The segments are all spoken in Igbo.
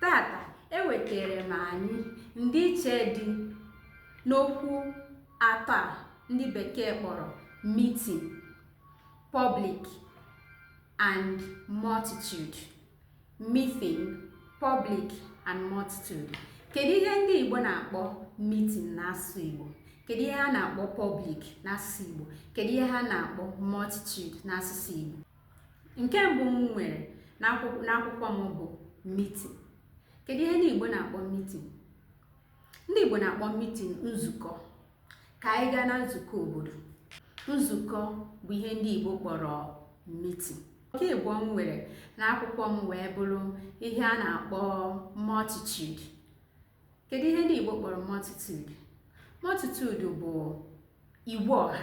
Taata ewetere m anyị ndịiche dị n'okwu atọ a ndị bekee kpọrọ meeting, public and multitude. Meeting, public and multitude. Kedu ihe ndị Igbo na-akpọ meeting n'asụsụ Igbo? Kedu ihe ha na-akpọ public n'asụsụ Igbo? Kedu ihe ha na-akpọ multitude n'asụsụ Igbo? nke mbụ m nwere n'akwụkwọ m bụ meeting kedu ihe ndị Igbo na-akpọ meeting ndị Igbo na-akpọ meeting nzukọ ka anyị gaa na nzukọ obodo nzukọ bụ ihe ndị Igbo kpọrọ meeting nke ịbụọ m nwere n'akwụkwọ m wee bụrụ ihe a na-akpọ multitude kedu ihe ndị Igbo kpọrọ multitude multitude bụ igwe ọha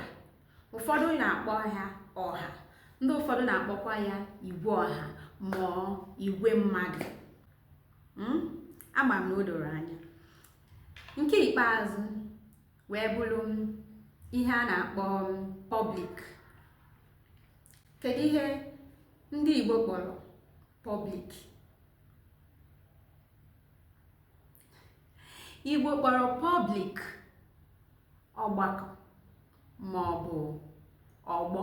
ụfọdụ na-akpọ ya ọha ndị ụfọdụ na-akpọkwa ya igwe ọha ma igwe mmadụ hmm? ama m na o doro anya nke ikpeazụ wee bụrụ ihe a na-akpọ public kedu ihe ndị Igbo kpọrọ public Igbo kpọrọ public ọgbakọ ma ọ bụ ọgbọ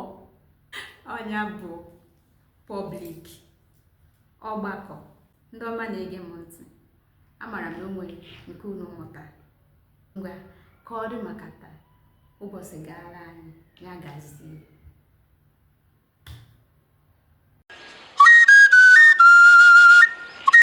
ọ nya bụ public ọgbakọ ndị ọma na-ege m ntị amara m na o nwere nke unu mụtara ngwa ka ọ dị maka taa ụbọchị gaara anyị ya gazie